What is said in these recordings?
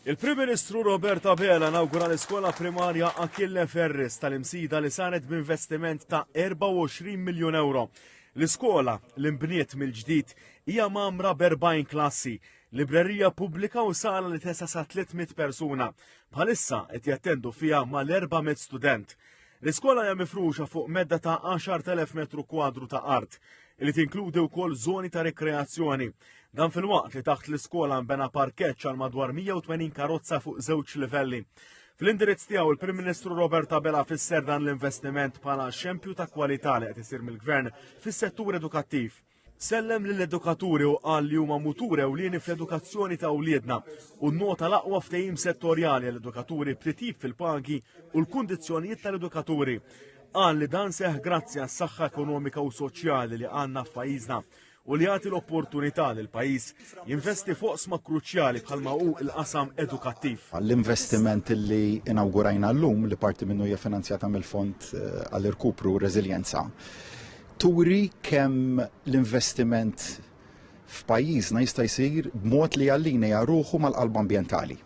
Il-Prim Ministru Robert Abela nawgura l-iskola primarja Achille Ferris tal-imsida li saret b'investiment ta' 24 miljun euro. L-iskola li nbniet mill-ġdid hija mamra b'40 klassi, librerija pubblika u sala li tesa' sa 300 persuna. Bħalissa qed jattendu fiha mal-400 student. L-iskola hija mifruxa fuq medda ta' 10,000 metru kwadru ta' art, li tinkludi wkoll żoni ta' rikreazzjoni. Dan filwaqt li taħt l-iskola nbena parkeġġ għal madwar 180 karozza fuq żewġ livelli. Fl-indirizz tiegħu il-Prim Ministru Robert Abela fisser dan l-investiment bħala xempju ta' kwalità li qed isir mill-Gvern fis-settur edukattiv. Sellem lill-edukaturi u qal li huma mutur ewlieni fl-edukazzjoni ta' wliedna u nnota l-aqwa ftehim settorjali għall-edukaturi b'titjib fil-pagi u l-kundizzjonijiet tal-edukaturi. Qal li dan seħħ grazzi għas-saħħa ekonomika u soċjali li għandna f'pajjiżna u li jagħti l-opportunità li l-pajjiż jinvesti f'oqsma kruċjali bħalma hu l-qasam edukattiv. L-investiment li inawgurajna llum li parti minnu hija finanzjata mill-Fond eh, għall-Irkupru u Reżiljenza turi kemm l-investiment f'pajjiżna jista' jsir b'mod li jallinea ruħu mal-qalb ambjentali.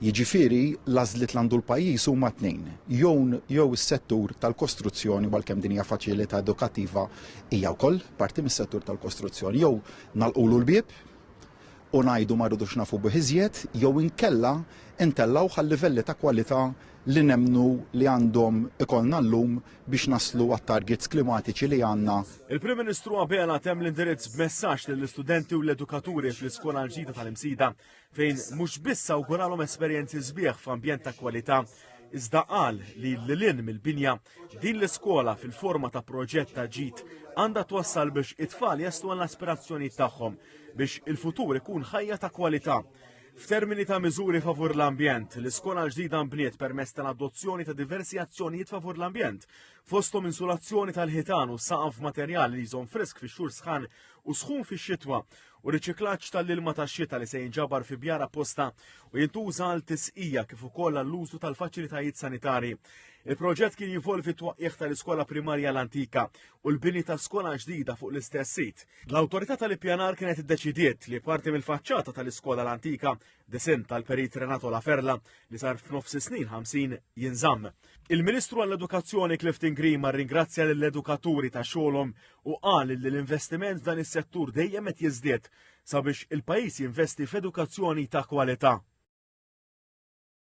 Jiġifieri l-għażliet li għandu l-pajjiż huma tnejn, jew jew is-settur tal-kostruzzjoni għalkemm din hija faċilità edukattiva hija wkoll parti mis-settur tal-kostruzzjoni jew nagħlqulu l-bieb u ngħidu ma rridux nafu bih iżjed jew inkella ntellgħuh għal livelli ta' kwalità li nemmnu li għandhom ikollna llum biex naslu għat-targets klimatiċi li għandna. Il-Prim Ministru Abela temm l-indirizz b'messaġġ lill-istudenti u l-edukaturi fl-iskola l-ġdida tal-Imsida fejn mhux biss awguralhom esperjenzi sbieħ f'ambjent ta' kwalità iżda qal li lilin mill-binja din l-iskola fil-forma ta' proġett ta' ġid għandha twassal biex it-tfal jaslu għall-aspirazzjonijiet tagħhom biex il-futur ikun ħajja ta' kwalità. F'termini ta' miżuri favur l-ambjent, l-iskola l-ġdida nbniet permezz tal-adozzjoni ta' diversi azzjonijiet favur l-ambjent, fosthom insulazzjoni tal-ħitan u saqaf materjal li jżomm frisk fix-xhur sħan u sħun fix-xitwa, u riċiklaġġ tal-ilma tax-xita li se jinġabar fi bjar apposta u jintuża għal tisqija kif ukoll għall-użu tal-faċilitajiet sanitarji. Il-proġett kien jinvolvi t-twaqqigħ tal-iskola primarja l-antika u l-bini ta' skola ġdida fuq l-istess sit. L-Awtorità tal-Ippjanar kienet iddeċidiet li parti mill-faċċata tal-iskola l-antika disinn tal-Perit Renato La Ferla li sar f'nofs is-snin 50 jinżamm. Il-Ministru għall-Edukazzjoni Clifton Grima rringrazzja lill-edukaturi ta' xogħolhom u qal li l-investiment f'dan is-settur dejjem qed jiżdied sabiex il-pajjiż jinvesti f'edukazzjoni ta' kwalità.